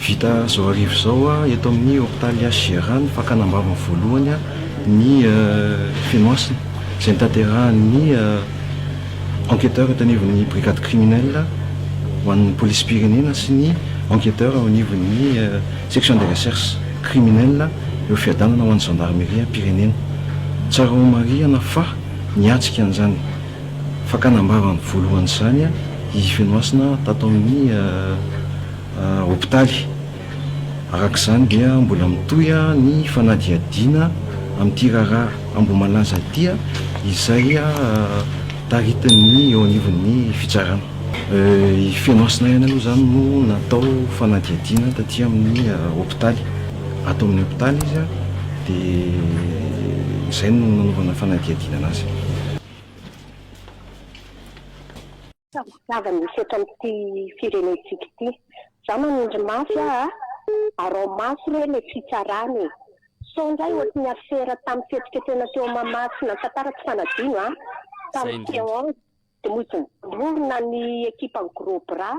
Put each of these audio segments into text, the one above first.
Vita izao hariva izao eto amin'ny hopitaly H Gérard ny fakana am-bavany voalohany ny Fenohasina izay notanterahin'ny enquêteur eto anivon'ny brigade criminelle ho an'ny polisim-pirenena sy ny enquêteur ao anivon'ny section des recherches criminelles eo Fiadanana ho an'ny zandarimeriam-pirenena. Tsara homarihana fa niatrika an'izany Fakana am-bava ny voalohan'izany i Fenohasina tato amin'ny hopitaly. Araka izany dia mbola mitohy ny fanadihadiana amin'ity raharaha Ambohimalaza ity izay taritin'ny eo anivon'ny fitsarana. I Fenohasina ihany aloha izany no natao fanadihadiana taty amin'ny hopitaly. Ato amin'ny hopitaly izy dia izay no nanaovana fanadihadiana an'azy. Tadiaviny misy eto amin'ity firenentsika ity. Za manindry mafy aho a! Arao mafy re le fitsarana e! Sao ndray ohatry ny afera tamin'ny fihetsiketsehina teo Mahamasina tantara tsy fanadino a! Tamin'ny Théâtre de Mozambique, vorona ny ekipan'ny Gros Bras.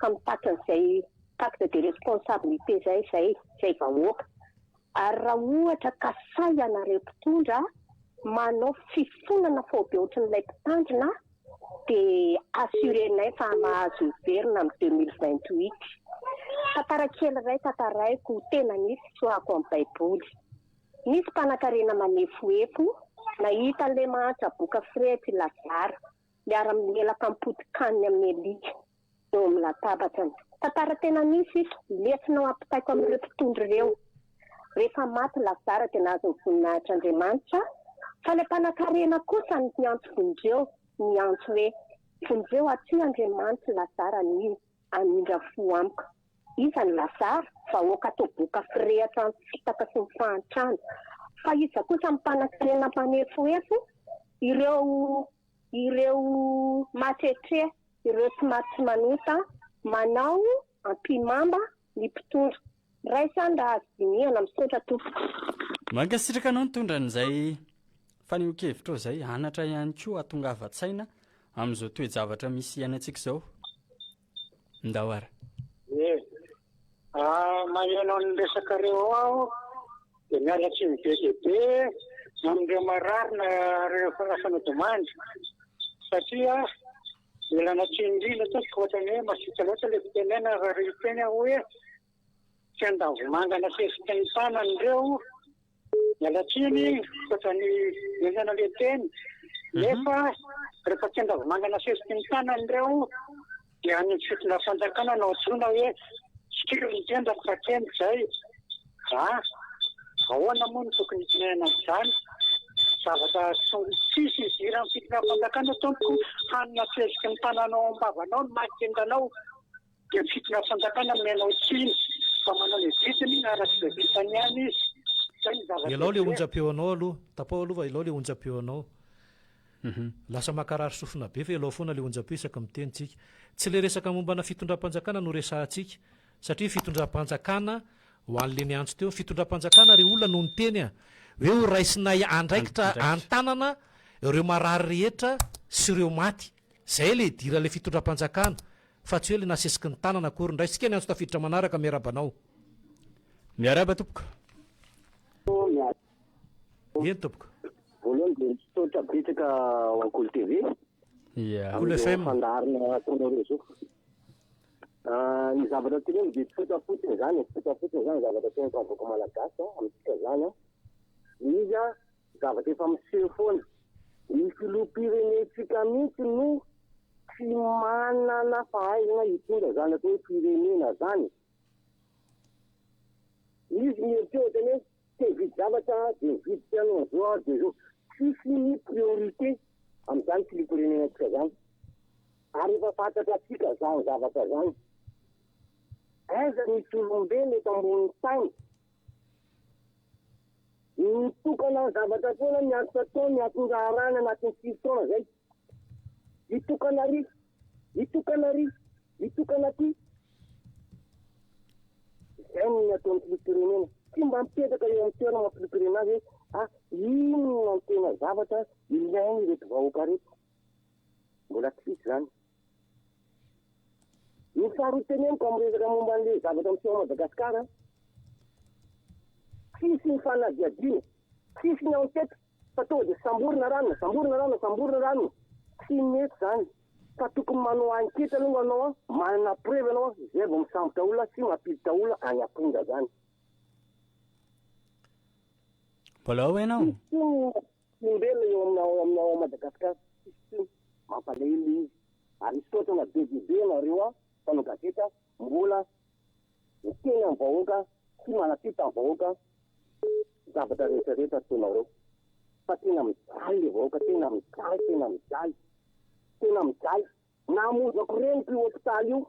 ka mitaky an'izay pacte de responsabilité izay izay izay vahoaka ary raha ohatra ka sahy ianareo mpitondra manao fifonana faobe ohatrin'ilay mpitandrina dia assurer-nay fa mahazo miverina amin'ny 2028 tantara kely iray tantaraiko tena nisy tsoahako amin'ny baiboly nisy mpanakarena manefoefo nahita an'ilay mahantra boka fret Lazara Miara-milelaka am-potin-kanina amin'ny alika eo amin'ny latabatrany. Tantara tena nisy ito, lesona ho ampitaiko amin'ireo mpitondra ireo. Rehefa maty Lazara dia nahazo ny voninahitr'Andriamanitra, fa ilay mpanankarena kosa niantso vonjeo, niantso hoe, Vonjeo aty Andriamanitry Lazara anio. Anindra fo amiko. Iza no lasary? Vahoaka toa boka firehitra amin'ny fitaka sy ny fahantrana. Fa iza kosa no mpanankarena mpanefohefo? Ireo ireo mahatrehitrehitra, ireo tsy maty tsy manota, manao ampihimamba ny mpitondra. Raisan raha azo dinihana. Misaotra tompoko. Mankasitraka anao nitondra an'izay fanehoan-kevitrao izay, anatra ihany koa hatongavan-tsaina amin'izao toe-javatra misy iainantsika izao. Ndao ara. Ee, maheno ny resakareo ao aho dia miala tsiny be dia be amin'ireo marary na ireo fanasana domande satria Mila anatreha indrindra tompoko ohatrany hoe masiaka loatra ilay fitenena raha reo teny aho hoe tsy andavomanga nateziko teny an-tanany reo miala tsiny koatra ny nenana ilay teny nefa rehefa tsy andavomanga nasesiko ny tanany reo dia any amin'ny fitondrafanjakana no antsoina hoe tsy kely ny tendako fa teny izay Raha, ahoana moa no tokony hitonenana an'izany? Zavatra tsisy idiran'ny fitonam-panjakana tompoko, hany na fiheziky ny tananao am-bavanao ny maty tendanao dia ny fitonam-panjakana manome anao tsiny fa manao ny adidiny araka izay vitany ihany izy. Izay no zavatra Elao le heveriko. onjam-peo anao aloha, tapaho aloha fa elao le onjam-peo anao. Lasa mankarary sofina be fa elao foana le onjam-peo isaky miteny tsika. Tsy le resaka mombana fitondram-panjakana no resahantsika satria fitondram-panjakana ho an'le niantso teo, fitondram-panjakana ry olona no niteny hoe ho raisinay andraikitra an-tanana ireo marary rehetra sy ireo maty, zay le idiran'le fitondram-panjakana fa tsy hoe le nasesiky ny tanana akory, ndraisintsika ny antso tafiditra manaraka, miarahaba anao. Miarahaba tompoko. Eny tompoko. Voalohany dia misaotra betsaka ho an'i Kolo TV, Kolo FM. amin'ny fandaharana ataonao ireo zao. Ny zavatra teneno dia tsotra fotsiny izany e, tsotra fotsiny izany ny zavatra teneniko amin'ny vahoaka malagasy an, amintsika izany an, dia izy an, zavatra efa miseho foana, ny filoham-pirenentsika mihitsy no tsy manana fahaizana hitondra izany atao hoe firenena izany e, misy ny eritreritany hoe. Tsy hividy zavatra aho dia hividy piano amin'izao aho dia izao. Tsisy ny priorité amin'izany filiam-pirenenantsika izany. Ary efa fantatra antsika izany zavatra izany. Aiza misy olombelona eto ambonin'ny tany mitokana amin'ny zavatra ataony, ny asa ataony, ny atondraharahany anatin'ny sivy taona izay? Mitokana ary! Mitokana ary! Mitokana aty! Izay no ataon'ny filoham-pirenena. Tsy mba mipetraka eo amin'ny toerana ny filoham-pirenena hoe ah, inona no tena zavatra ilain'ireto vahoaka ireto. Mbola tsy hisy izany. Ny faharoa teneniko amin'ny resaka momba an'ilay zavatra miseho ao Madagasikara, tsisy ny fanadihadiana, tsisy ny enquête. Fa tonga dia samborina rano, samborina rano, samborina rano, tsy mety izany fa tokony manao enquete aloha ianao an, manana preuve ianao an, izay vao misambotra olona sy mampiditra olona any am-ponja izany. Mbola ao ve ianao? Tsisy intsony ny olombelona eo amin'ny ao amin'ny ao Madagasikara, tsisy intsony, mampalahelo ilay izy. Ary misaotra anareo be dia be ianareo an, mpanao gazety an. Mbola miteny amin'ny vahoaka sy manatri tamin'ny vahoaka ny zavatra rehetra rehetra ataonareo fa tena mijaly ilay vahoaka tena mijaly tena mijaly tena mijaly namonjako reniko io hopitaly io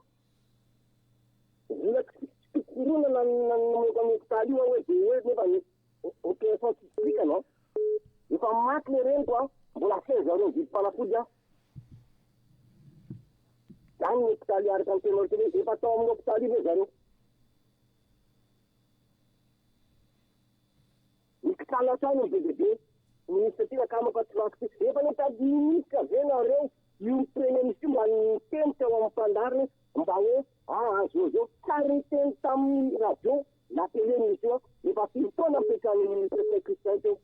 mbola tsy tsy koronana ny namoaka ny hopitaly io aho hoe dia hoe nefa ny opération tsy vitanao efa maty ilay reniko a mbola asaivo arivo ny vidim-panafody aho Any ny hopitaly Heart and Kidney Clinic, efa tao amin'ny hopitaly io ve zareo? Mikitana hatrany ny BDB, Ministra ty akama fa tsy lako ty. Efa nitady Ministra ve nareo io premier ministre io mba niteny teo amin'ny fandaharana mba hoe ahazoa zao? Tsary niteny tamin'ny radio na tele Ministra io an, efa firy taona nipetrahan'ny Ministra Saint Christin teo?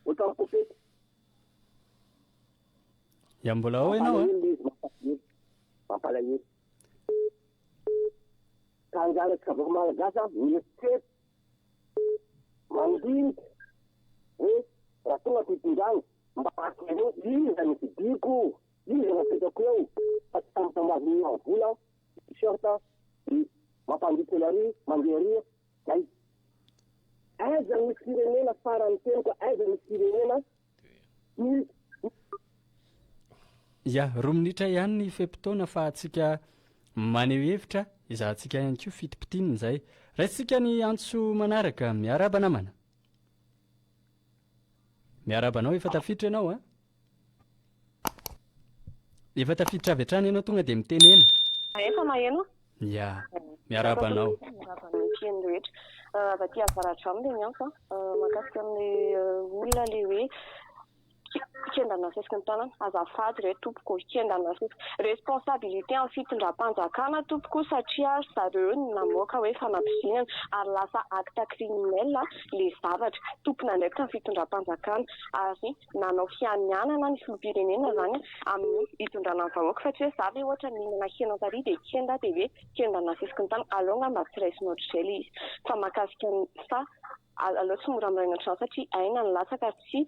Ohatran'ny pôfety. Ya mbola ao ianao a. Mampalahelo izy, mampalahelo. Mampalahelo. Ka angaha tsy vahoaka malagasy a, mieritreritra, mandinika hoe raha tonga aty am-pindrana mba avereno iza no vidiako, iza no apetrako eo fa tsy tampotambazin'ny ohabolana, t-shirt, dia mampandriaka ery, mandeha ery. Zay. Aiza ny firenena farany teny ka aiza ny firenena Ya, roa minitra ihany ny fe-potoana fa antsika maneho hevitra, ezahantsika ihany koa fitipitiana izay. Raisintsika ny antso manaraka. Miarahaba namana. Miarahaba anao, efa tafiditra ianao a. Efa tafiditra avy hatrany ianao tonga dia mitenena. Efa maheno? Ya. Miarahaba anao. Miarahaba ny mpihaino rehetra. Avy aty Avaradrano ilay miantso an. Mahakasika an'ilay olona ilay hoe kendana asesiky ny tanana. Azafady re tompoko, kendana asesiky. Responsabilité an'ny fitondram-panjakana tompoko satria ry zareo no namoaka hoe fanampoizinana ary lasa acte criminel ilay zavatra. Tompon'andraikitra ny fitondram-panjakana ary nanao fianianana ny filoham-pirenena izany amin'ny hitondrana ny vahoaka fa tsy hoe za ve ohatra mihinana hena tary dia kenda dia hoe kenda nasiako ny tany aleo ngamba tsy raisina ohatr'izay ilay izy fa mahakasika ny fa aleo tsy mora miraina ohatr'izany satria aina no latsaka ary tsy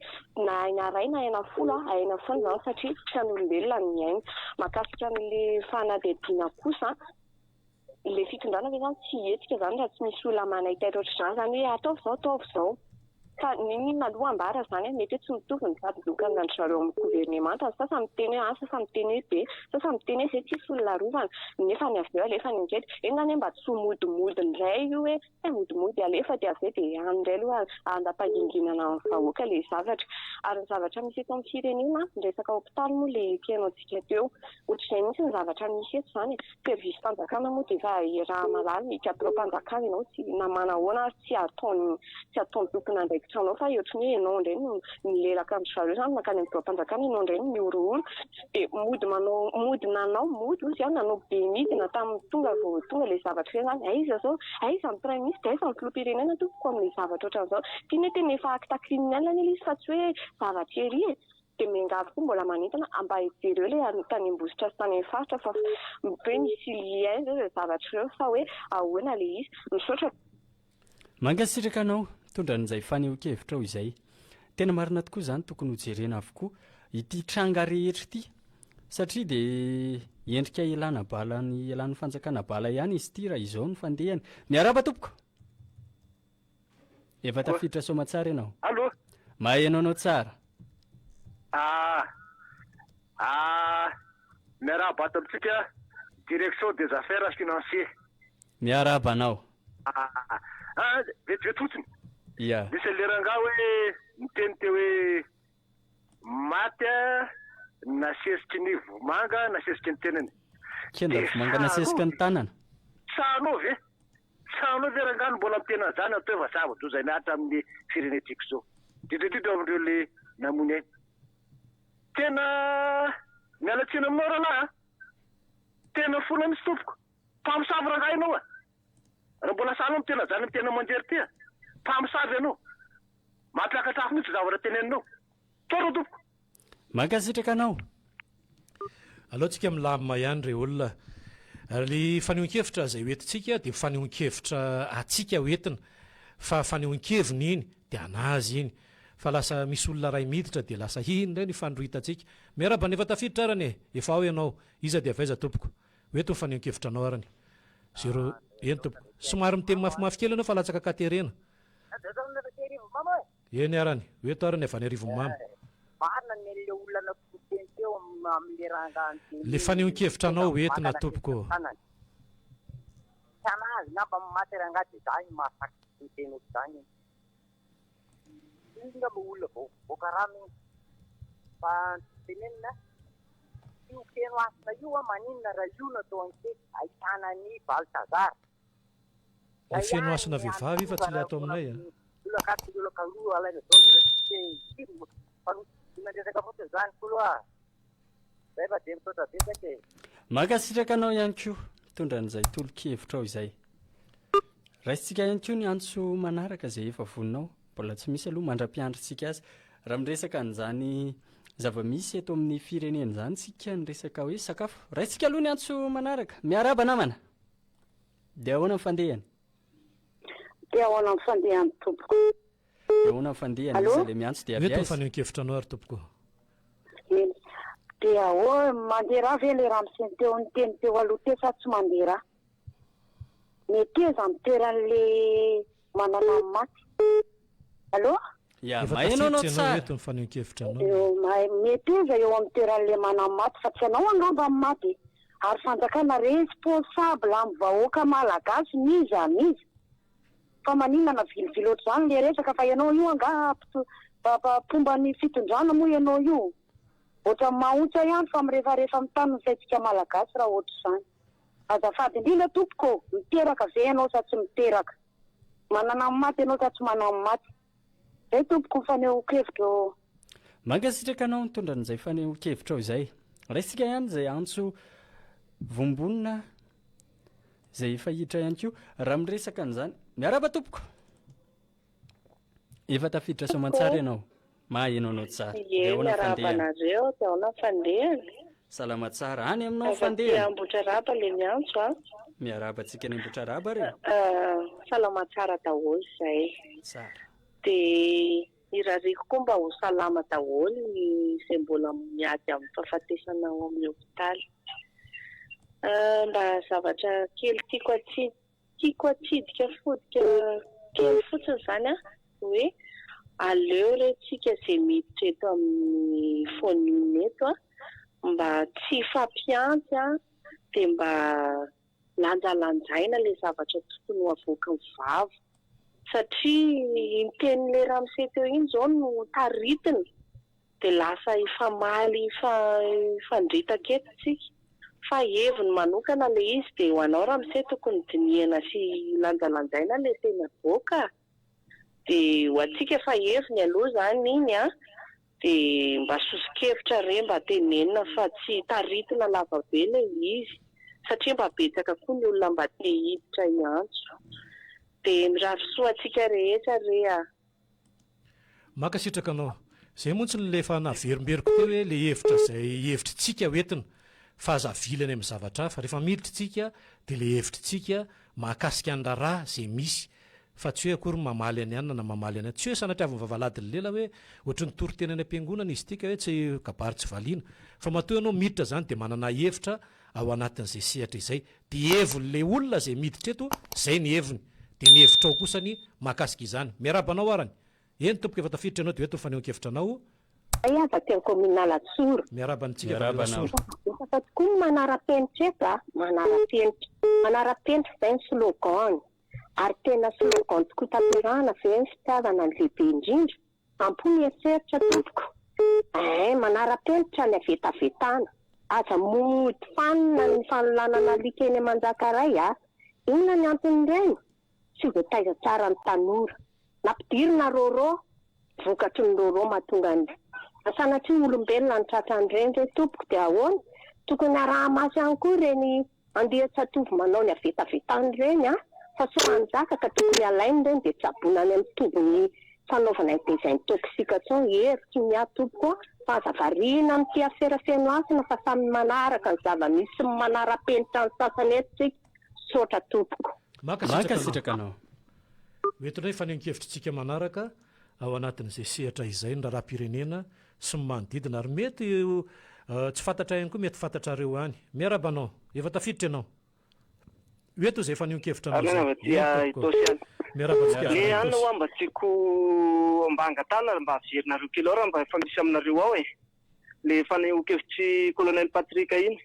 na aina iray na aina folo an aina foana izany satria tsy an'olombelona ny aina mahakasika an'ilay fanadihadiana kosa Ilay fitondrana ve zany tsy hihetsika izany raha tsy misy olona manaiky azy ohatr'izany izany hoe ataovy izao, ataovy izao. Fa n'inon'inona aloha ambara izany an, mety hoe tsy mitovy ny tady lokana an-dry zareo amin'ny governemanta. Ny sasany miteny hoe A, ny sasany miteny hoe B, ny sasany miteny hoe izay tsisy olona arovana. Nefa ny avy eo alefany an-geda. Enga anie mba tsy ho modimody indray io hoe Tsy mimodimody alefa dia avy eo dia any indray aloha handapaginginana ny vahoaka ilay zavatra. Ary ny zavatra misy eto amin'ny firenena, ny resaka hopitaly moa ilay ekena antsika teo. Ohatr'izay mihitsy ny zavatra misy eto izany e! Service fanjakana moa dia efa iaraha mahalala ny kadraom-panjakana ianao tsy na manahoana ary tsy ataon'ny tsy ataon'ny tompon'andraikitra anao fa ohatrany hoe ianao indray no milelaka an-dry zareo izany mankany amin'ny biraom-panjakana ianao indray no mihorohoro. dia mody manao mody nanao mody ozy aho nanao be midina tamin'ny tonga vao tonga ilay zavatra hoe zany aiza zao aiza ny praiminisitra aiza ny filoham-pirenena tompoko amin'ilay zavatra ohatran'izao ity nety anie efa acte criminel anie ilay izy fa tsy hoe zavatra ery e dia miangavy koa mbola manentana mba hijereo ilay tany ambositra sy tany amin'ny faritra fa hoe misy lien zao ireo zavatra ireo fa hoe ahoana ilay izy misaotra Mankasitraka anao nitondra an'izay fanehoan-kevitrao izay. Tena marina tokoa izany, tokony ho jerena avokoa ity tranga rehetra ity satria dia endrika ialana bala ny ialan'ny fanjakana bala ihany izy ity raha izao ny fandehany. Miarahaba tompoko. Efa tafiditra soamatsara ianao. Allo. Maheno anao tsara. Ah. Ah. Miarahaba ato amintsika direction des affaires financiers. Miarahaba anao. Aa ah, vetivety fotsiny. Yeah. Nisy an'ilay rangahy hoe niteny teo hoe maty nasesiky ny vomanga nasesiky ny tenany. Kenda vomanga nasesiky ny tanana. Tsanao ve? Tsanao ve rangahy no mbola miteny an'izany anto efa zava-doza miaritra amin'ny firenentsika izao. Indrindra indrindra amin'ireo le namoy ny ainy. Tena miala tsiny aminao rahalahy a. Tena fona mihitsy tompoko. Mpamosavy rangahy ianao a! Raha mbola sahala amin'ny tena zanany tena mangery tia, mpamosavy ianao. Mampiakatr'afo mihitsy ny zavatra teneninao. Tsotra tompoko. Mankasitraka anao. Aleontsika milamina ihany ry olona. Ilay fanehoan-kevitra izay hoentintsika dia fanehoan-kevitra antsika ho entina fa fanehoan-keviny iny dia an'azy iny. Fa lasa misy olona iray miditra dia lasa iny indray no ifandrohitantsika. Miarahaba ny efa tafiditra arany e! Efa ao ianao. Iza dia avy aiza tompoko? Hoe toa fanehoan-kevitra anao ary ny. Zero, eny tompoko. Somary miteny mafimafy kely ianao fa latsaka ka terena. Eny ary ny. Hoe toa ary ny avy any arivon'i mama. Le fanehoan-kevitra anao ho entina tompoko. Iny nga mba olona vao mivoaka rano iny fa tenenina io feno hasina io hoa maninona raha io no atao enquete ahitana an'i Balthazar Ilay feno hasina vehivavy io fa tsy ilay ato aminay a! Olona gasy sy olona kaloa alaina daholo ireo tsy te hifidy fa no tsy vidiana resaka fotsiny izany kolo a! Zay fa dia misaotra betsaka e. Mankasitraka anao ihany koa mitondra an'izay tolo-kevitrao izay. Raisintsika ihany koa ny antso manaraka izay efa voninao. Mbola tsy misy aloha, mandra-piandrintsika azy. Raha miresaka an'izany zava-misy eto amin'ny firenena izany isika ny resaka hoe sakafo. Raisintsika aloha ny antso manaraka. Miarahaba namana. Dia ahoana ny fandehany? Dia ahoana ny fandehany tompoko? Dia ahoana ny fandehany? Iza ilay miantso dia avy aiza? Mety ny fanehoan-kevitranao ary tompoko. Eny. Dia ahoa, mandeha ra ve ilay ramose teo niteny teo aloha teo sa tsy mandeha ra? Meteza ny toeran'ilay manana ny maty. Allo? Ya, Efa maheno anao tafiditra ianao tsara. eto ny fanehoan-kevitranao. Eo, mahay, meteza eo amin'ny toeran'ilay manana ny maty fa tsy ianao angamba ny maty e. Ary fanjakana responsable amin'ny vahoaka malagasy n'iza n'iza. Fa maninona navilivily ohatr'izany le resaka fa ianao io angaha mpomba ny fitondrana moa ianao io? Ohatran'ny mahaontsa ihany fa mirefarefa amin'ny tany ny saintsika malagasy raha ohatr'izany. Azafady indrindra tompoko ô! Miteraka ve ianao sa tsy miteraka? Manana ny maty ianao sa tsy manan'ny maty? Zay tompoko fanehoan-kevitra ô. Mankasitraka anao nitondra an'izay fanehoan-kevitrao izay. Raisintsika ihany izay antso vombonina izay efa hiditra ihany koa raha miresaka an'izany. Miarahaba tompoko. Efa tafiditra soamantsara ianao. Mahaheno anao tsara. Ie, miarahaba anareo. Dia ahoana ny fandehany? Salama tsara, any aminao fa ndeha? Avy aty Ambohitraraba le miantso a. Miarahaba antsika any Ambohitraraba re. Salama tsara daholo izay. Tsara. Dia irariako koa mba ho salama daholo ny izay mbola miady amin'ny fahafatesana ao amin'ny hopitaly. Mba zavatra kely tiako atsimo. Tiako atsidika fodika kely fotsiny izany an, hoe aleo re tsika izay miditra eto amin'ny Fonina eto an, mba tsy hifampihantsy an, dia mba lanjalanjaina ilay zavatra tokony ho avoakan'ny vava, satria iny tenin'ilay ramose teo iny izao no taritina. Dia lasa hifamaly hifandritaka eto tsika. Fa heviny manokana ilay izy dia ho anao ramose tokony dinihana sy lanjalanjaina ilay teny avoaka dia ho antsika efa heviny aloha izany iny an! dia mba soso-kevitra re mba tenenina fa tsy taritina lavabe ilay izy satria mba betsaka koa ny olona mba te hiditra hiantso dia mirary soa antsika rehetra re ah! Mankasitraka anao. Zay montsy no le efa naverimberiko teo hoe le hevitra zay hevitry tsika ho entina fa aza avily any am zavatra hafa. Refa miditry tsika de le hevitry tsika mahakasika ny raharaha ze misy fa tsy hoe akory mamaly any anona na mamaly any tsy hoe sanatriaviny vavaladiny lela hoe ohatry ny toriteny any am-piangonana izy ity ka hoe tsy kabary tsy valiana fa matoa ianao miditra zany de manana hevitra ao anatin'izay sehatra izay dia hevon'ilay olona izay miditra eto izay ny heviny dia ny hevitrao kosa ny mahakasika izany. Miarahaba anao arany. Eny tompoko efa tafiditra ianao dia eto ny fanehoan-kevitra anao. Izahay avy aty amin'ny kaominina Alasora. Miarahaba antsika avy any Alasora. Betsaka tokoa ny manara-penitra eto a, manara-penitra. Manara-penitra izay ny slogan-ny ary tena slogan tokoa tanterahina fa hoe ny fitiavana no lehibe indrindra. Am-po ny eritreritra tompoko eh, manara-penitra ny havetavetana, aza mody fanina ny fanolanana alika eny Manjaka ray a! Inona ny anton'ireny? Tsy voataiza tsara ny tanora. Nampidirina rôrô, vokatry ny rôrô mahatonga ny Sanatria olombelona no tratran'ireny re tompoko dia ahoana? Tokony araha-maso ihany koa ireny Andeha tsy atovy manao ny havetavetany ireny a! Fa sao hanjaka ka tokony alainy ireny dia tsaboina any amin'ny tobin'ny fanaovana ny désintoxication hery toy ny ahy tompoko a! Fa aza variana amin'ity afera feno hasina fa samy manaraka ny zava-misy sy manara-penitra ny sasany eto isika. Misaotra tompoko. Mankasitraka anao. Hoentinay hifanehoan-kevitrintsika manaraka ao anatin'izay sehatra izay ny raharaham-pirenena sy ny manodidina ary mety ho tsy fantatray ihany koa mety fantatrareo any. Miarahaba anao. Efa tafiditra ianao. Hoe toa izay fanehoan-kevitra anao izay. Eny tompoko. Miarahaba antsika avy any Itaosy. Mba tiako mba angatahana mba averinareo kely ao raha mba efa misy aminareo ao e, le fanehoan-kevitr'i Colonel Patrick iny.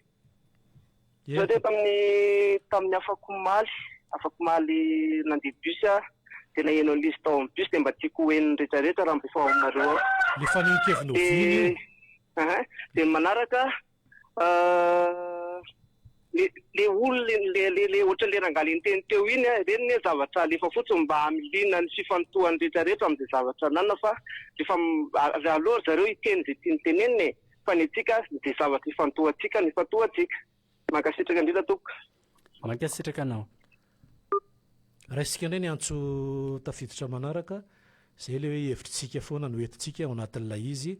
Za dia tamin'ny tamin'ny afakomaly afakomaly nandeha bus aho dia naheno an'ilay izy tao amin'ny bus dia mba tiako ho henon'ny rehetra rehetra raha mba efa ao aminareo ao. Le fanehonkeviny oviana io? Aha, dia ny manaraka le le olona le le le ohatran'ny le rangahy le niteny teo iny a, ireny anie zavatra alefa fotsiny mba hamiliana ny fifantohan'ny rehetra rehetra amin'izay zavatra ananana fa rehefa aleo ry zareo hiteny izay tiany tenenina e, fa ny antsika dia zavatra ifantohantsika no ifantohantsika. Mankasitraka indrindra tompoko. Mankasitraka anao. Raisika indray ny antso tafiditra manaraka, izay ilay hoe hevitr'isika foana no entintsika ao anatin'ilay izy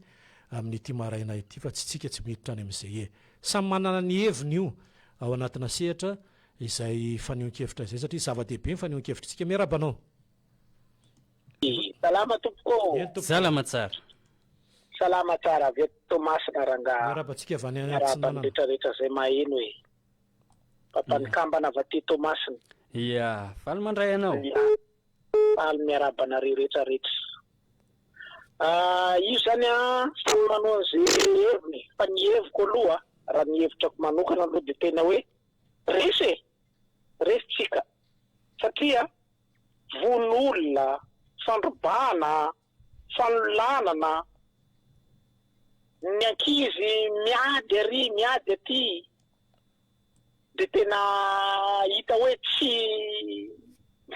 amin'ity maraina ity fa tsy isika tsy miditra any amin'izay e. Samy manana ny heviny io ao anatina sehatra izay fanehoan-kevitra izay satria zava-dehibe ny fanehoan-kevitr'isika. Miarahaba anao. Salama tompoko ô! Salama tsara. Salama tsara avy eto Toamasina rangaha. Miarahaba antsika avy any Atsinanana. Miarahaba ny rehetra rehetra izay maheno e. Papa nikambana avy aty Toamasina. Ia, faly mandray anao. Faly miarahaba anareo rehetra rehetra. Io izany an, samy manao an'izay heviny fa ny heviko aloha, raha ny hevitrako manokana aloha dia tena hoe resy e, resy tsika satria, vono olona, fandrobana, fanolanana, ny ankizy miady ary miady aty dia tena hita hoe tsy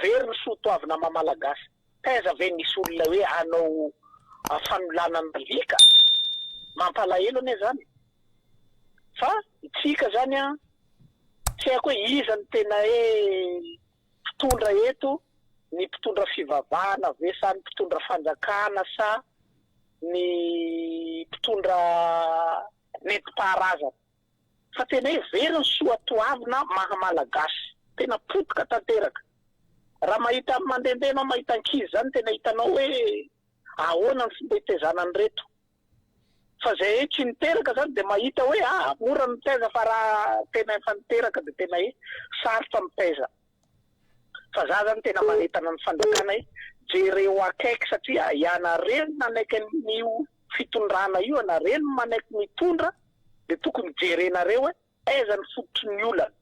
very ny soa toavina maha malagasy, taiza ve nisy olona hoe hanao fanolanana alika? mampalahelo anie zany fa itsika zany an tsy haiko hoe iza no tena hoe mpitondra eto ny mpitondra fivavahana ve sa ny mpitondra fanjakana sa ny mpitondra nentim-paharazana fa tena hoe very ny soa toavina maha malagasy tena potika tanteraka raha mahita ny mandendeha anao mahita ankizy zany tena hitanao hoe ahoana ny fomba hitezana an'ireto Fa zay tsy niteraka zany de mahita hoe ah mora ny mitaiza fa raha tena efa niteraka de tena hoe sarotra mitaiza. Fa za zany tena manentana ny fanjakana hoe jereo akaiky satria ianareo no nanaiky an'io fitondrana io ianareo no manaiky mitondra de tokony jerenareo hoe. Aiza ny fototry ny olana?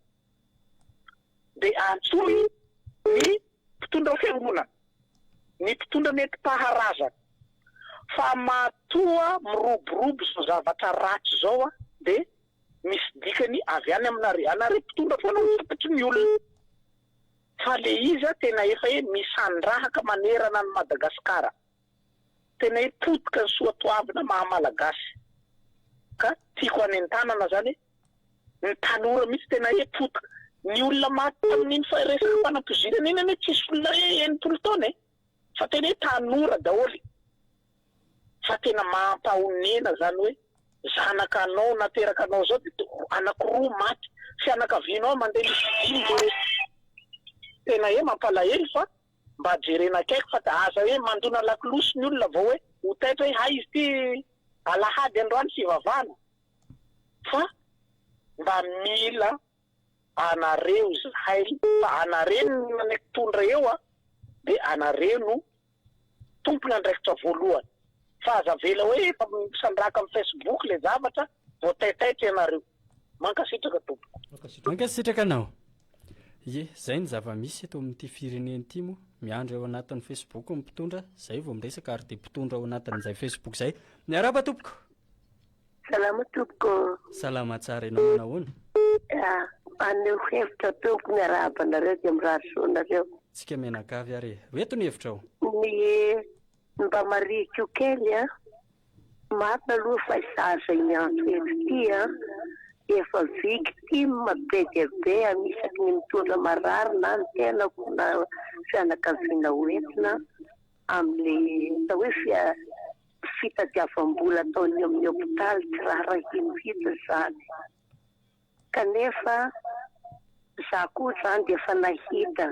Dia antsoy ny mpitondra fiangonana, ny mpitondra nentim-paharazana. Fa matoa miroborobo izao zavatra ratsy izao an, dia misy dikany avy any aminareo. Ianareo mpitondra foana no fototry ny olana. Fa le izy an tena efa e misandrahaka manerana an'i Madagasikara. Tena hoe potika ny soatoavina maha malagasy ka tiako hanentanana zany hoe ny tanora mihitsy tena hoe potika. Ny olona maty tamin'iny resaka fanampoizinana iny anie tsisy olona hoe enimpolo taona e! fa tena hoe tanora daholo fa tena mampahonena zany hoe zanaka anao nateraka anao zao de anaky roa maty fianakavianao mandeha mividy iny le hoe tena hoe mampalahelo fa Mba jerena akaiky fa da aza hoe mandona lakolosy ny olona vao hoe ho taitra hoe hay izy ity alahady androany fivavahana fa mba mila anareo zahay fa anareo no mpitondra eo an de anareo no tompon'andraikitra voalohany fa aza avela hoe efa misandraka am facebook le zavatra Voataitaitra ianareo. Mankasitraka tompoko. Mankasitraka anao. Ye, zay ny zava-misy eto amin'ity firenena ity moa, miandry ao anatin'ny Facebook ny mpitondra, zay vao miresaka ary dia mpitondra ao anatin'izay Facebook zay. Miarahaba tompoko. Salama tompoko. Salama tsara, ianao manao ahoana? Ah, aneho hevitra tompoko, miarahaba anareo dia mirary soa anareo. Tsika mianakavy ary e. Ho eto ny hevitrao. Ny. Mba marihiko kely an! Marina aloha fa izaho izay miantso eto ity an, dia efa victime be dia be an, isaky ny mitondra marary na ny tenako na fianakaviana ho entina amin'ilay atao hoe fia, fitadiavam-bola ataon'ny amin'ny hopitaly tsy raharahiany mihitsy izany. Kanefa za koa zany dia efa nahita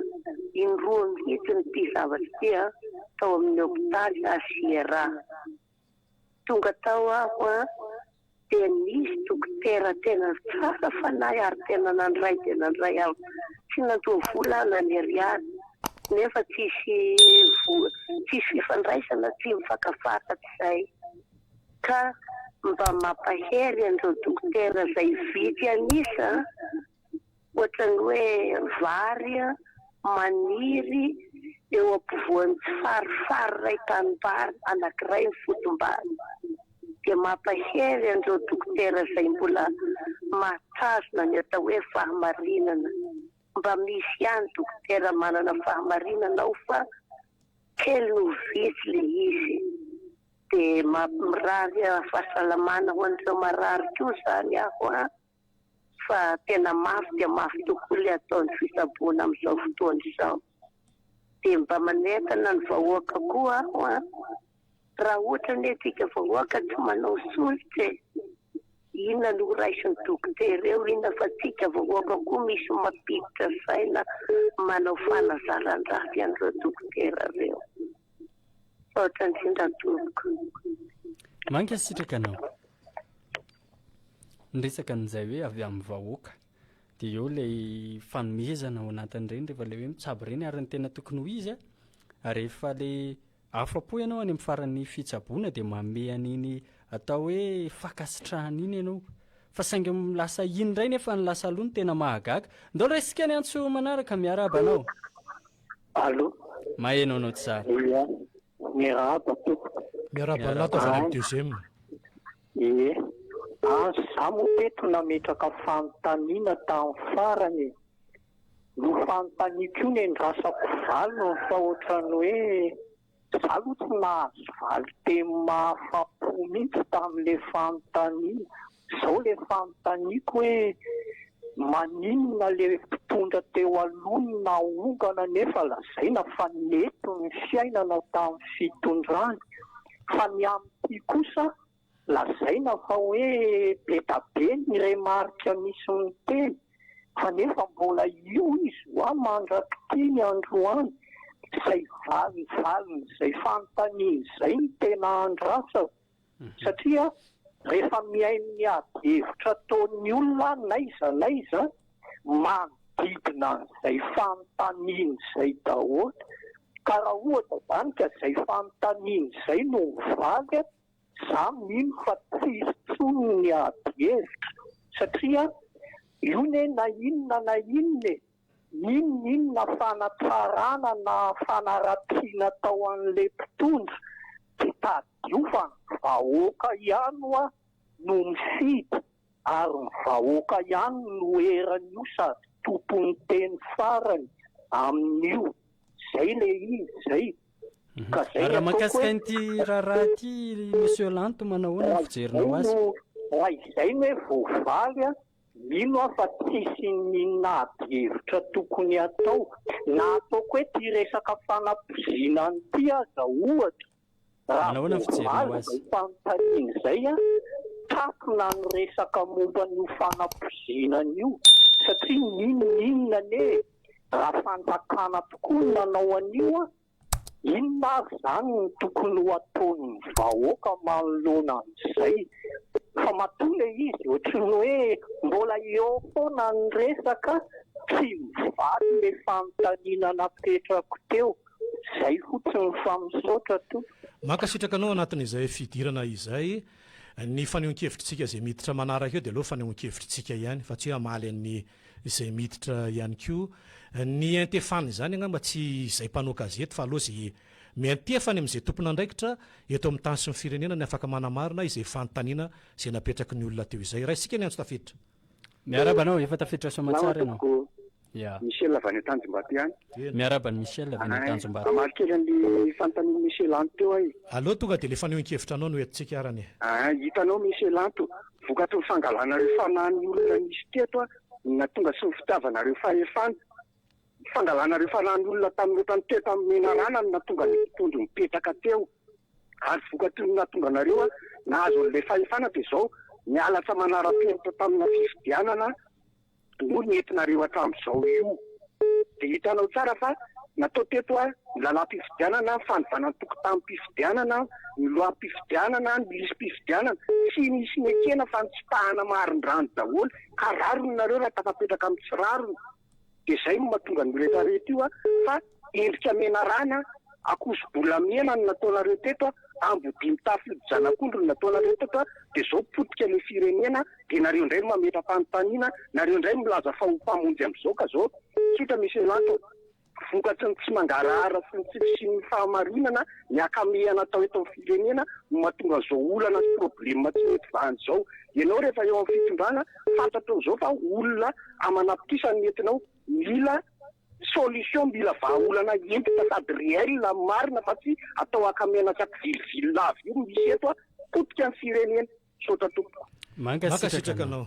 indroa mihitsiny ity zavatra ity an, tao amin'ny hopitaly HIRA. Tonga tao aho an, dia nisy dokotera tena tsara fanahy ary tena nandray dia nandray aho. Tsy nandoa vola aho na ny ariary, nefa tsisy vola, tsisy fifandraisana, tsy mifankafaha hatrizay. Ka mba mampahery an'ireo dokotera izay vitsy an'isa ohatran'ny hoe vary maniry eo ampovoan'ny tsy farifary iray tanimbary anankiray ny fotom-bary dia mampahery an'ireo dokotera izay mbola mahatazona ny atao hoe fahamarinana mba misy ihany dokotera manana fahamarinana ao fa kely no vitsy le izy Dia mamirary fahasalamana ho an'ireo marary koa izany aho an! Fa tena mafy dia mafy tokoa ilay ataon'ny fitsaboana amin'izao fotoana izao. Dia mba manentana ny vahoaka koa aho an! Raha ohatra anie antsika vahoaka tsy manao solika e! Inona no horaisin'ny dokotera eo, inona fa antsika vahoaka koa misy mampiditra saina manao fanazaran-dratsy an'ireo dokotera ireo. Misaotra indrindra tompoko. Mankasitraka anao. Niresaka an'izay hoe avy amin'ny vahoaka. Dia eo ilay fanomezana ao anatin'ireny rehefa ilay hoe mitsabo ireny ary ny tena tokony ho izy a rehefa ilay afa-po ianao any amin'ny faran'ny fitsaboana dia manome an'iny atao hoe fankasitrahana iny ianao. Fa saingy lasa iny indray nefa ny lasa aloha no tena mahagaga. Ndao raisika ny antso manaraka miarahaba anao. Allo. Maheno anao tsara. Ia. Miarahaba tompoko. Miarahaba anla tazana amin'ny deuxième. Ie. An za moa teto nametraka fanontaniana tam farany e. Nofanontaniako io nendrasako valiny fa ohatran'ny hoe Za aloha tsy nahazo valin-teny mahafa-po mihitsy tamin'ilay fanontaniana. Izao ilay fanontaniako hoe, maninona ilay mpitondra teo aloha no naongana nefa lazaina fa nety ny fiainana tamin'ny fitondrany, fa ny amin'ity kosa Lazaina fa hoe be da be ny remarque misy miteny fa nefa mbola io izy wa mandrak'ity ny androany izay valiny valin'izay fanontaniany izay no tena andrasako satria rehefa mihaino ny ady hevitra ataon'ny olona n'aiza n'aiza manodidina an'izay fanontaniany izay daholo ka raha ohatra izany ka izay fanontaniany izay no mivaly Za mino fa tsy hisy tsony ny ady hevitra satria io ne na inona na inona e, n'inona inona fanatsarana na fanaratsiana atao anle mpitondra de tadidio fa ny vahoaka ihany oa no mifidy. Ary ny vahoaka ihany no eran'io sady tompon'ny teny farany amin'io. Zay le izy zay. Ka zay ny ataoko hoe. Ary raha mahakasika an'ity raharaha ity Monsieur Lanto manao ahoana ny fijerinao azy? Raha izay no hoe voavaly an, mino aho fa tsisy n'inona ady hevitra tokony hatao. Na ataoko hoe ty resaka fanapozinana ty aza ohatra. Raha vao omaly izay fanontaniana izay, takona ny resaka momba an'io fanapoizinana io satria n'inon'inona anie e! Raha fanjakana tokoa no nanao an'io, inona ary izany no tokony ho ataon'ny vahoaka manoloana an'izay? Fa matoa ilay izy ohatry ny hoe mbola eo foana ny resaka, tsy mivaly ilay fanontaniana napetrako teo. Zay fotsiny fa misaotra tompoko. Mankasitraka anao anatin'izay fidirana izay. Ny fanehoan-kevitritsika izay miditra manaraka eo dia aleo fanehoan-kevitritsika ihany fa tsy hoe hamaly an'ny izay miditra ihany koa. Ny iantefana izany angamba tsy izay mpanao gazety fa aleo izay miantefa any amin'izay tompon'andraikitra eto amin'ny tany sy ny firenena ny afaka manamarina izay fanontaniana izay napetraky ny olona teo izay. Raisintsika ny antso tafiditra. Miaraba anao, efa tafiditra soamantsara ianao. Ya. Michel avy any Tanjombato ihany. Miaraba ny Michel avy any Tanjombato. Hamaly kely an'ilay fanontanian'i Michel Anto teo aho e. Aleo tonga dia ilay fanehoan-kevitra anao no entintsika arany e. Aa, hitanao Michel Anto, vokatry ny fangalanareo fanahin'ny olona nisy teto no nahatonga sy ny fitiavanareo fahefana Ny fangalana ireo fanahin'olona tamin'ny ohatrany teto amin'ny menarana no nahatonga ny mpitondro nipetraka teo ary vokatry ny nahatonga anareo nahazo an'ilay fahefana dia izao ny halatra manara-penitra tamina fifidianana no nentinareo hatramin'izao io dia hitanao tsara fa natao teto ny lalam-pifidianana, fanovana ny tokontanim-pifidianana, ny lohampifidianana, ny lisi-pifidianana, tsy nisy nekena fa nitsipahana marindrano daholo ka rariny nareo raha tafapetraka amin'ny tsy rariny. Dia izay no mahatonga an'io rehetra rehetra io fa endrika menarana akoso-bolamena no nataonareo teto, ambodia-mitafy hodi-janak'ondry no nataonareo teto, dia izao potika ilay firenena dia nareo indray no mametra-panontaniana, nareo indray milaza fa ho mpamonjy amin'izao ka izao, tsotra Monsieur Lanto, vokatry ny tsy mangarahara sy ny tsy fisian'ny fahamarinana ny akamehana atao eto amin'ny firenena no mahatonga an'izao olana sy problème tsy mety vahana izao, ianao rehefa eo amin'ny fitondrana Fantatro amin'izao fa olona aman'apitrisany no entina ao, mila solution, mila vahaolana entitra sady réel amin'ny marina fa tsy atao haka miaina tsy ampivilivily lava io no misy eto a, potika ny firenena. Misaotra tompoko. Mankasitraka anao.